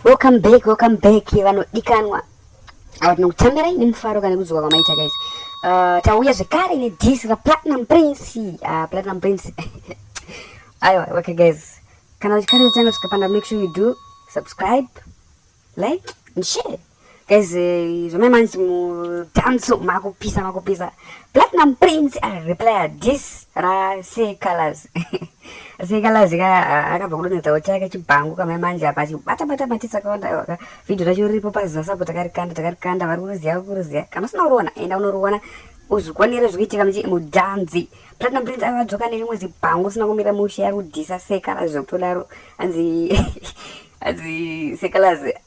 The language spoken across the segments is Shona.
Welcome back, welcome back vanodikanwa ava tinokutambira ini mufaro kana kudzoka kwamaita guys uh, tauya zvekare nedis raplatinum prince uh, platinum prince aiwa okay guys kana uchikari uchanga zvikapanda make sure you do subscribe like and share Guys, eh, zvamai manji mutanso makupisa makupisa. Platinum Prince a ah, replaya this ra say colors. Say colors ka ah, akabva kudonedzawo chake chibhangu kamai manji apa achibata bata matisa kawanda waka. Video racho riripo paziza sapo takarikanda takarikanda vari kuruziya kuruziya. Kana usina uruona enda unoruona uzvikwanire zvikuitika muchi mudanzi platinum prince ava adzoka nerimwe zibhangu usina kumira mushe ari kudhisa sekala zvokutodaro anzi anzi sekalazi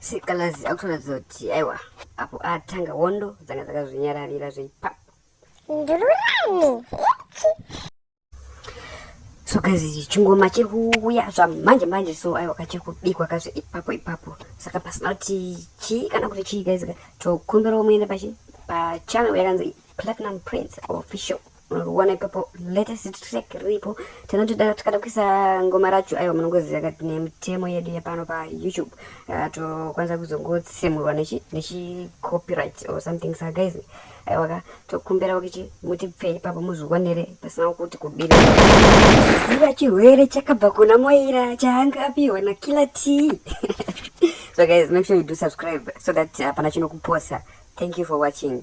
Sikalazi akutoratidza kuti aiwa apo atanga wondo dzanga dzakazvinyararira zveipap ndururani eti so guys chingoma chiri kuuya zvamanje manje so aiwa kachiri kubikwa kazve ipapo ipapo saka pasina kuti chii kana kuti chii guys tokumbirawo muende pachi pachannel yakanzi platinum prince official Murikuona ipapo latest track riripo tinotoda tikada kuisa ngoma racho aiwa munongoziva kati nemitemo yedu yepano pa youtube uh, tokwanisa kuzongotsemurwa nechi nechi copyright or something sa guys aiwa ka tokumbira kuti mutipfe ipapo muzviwanire pasina kuti kubira ziva chirwere chakabva kuna moira chaanga apiwa na killer t so guys make sure you do subscribe so that hapana uh, chinokuposa thank you for watching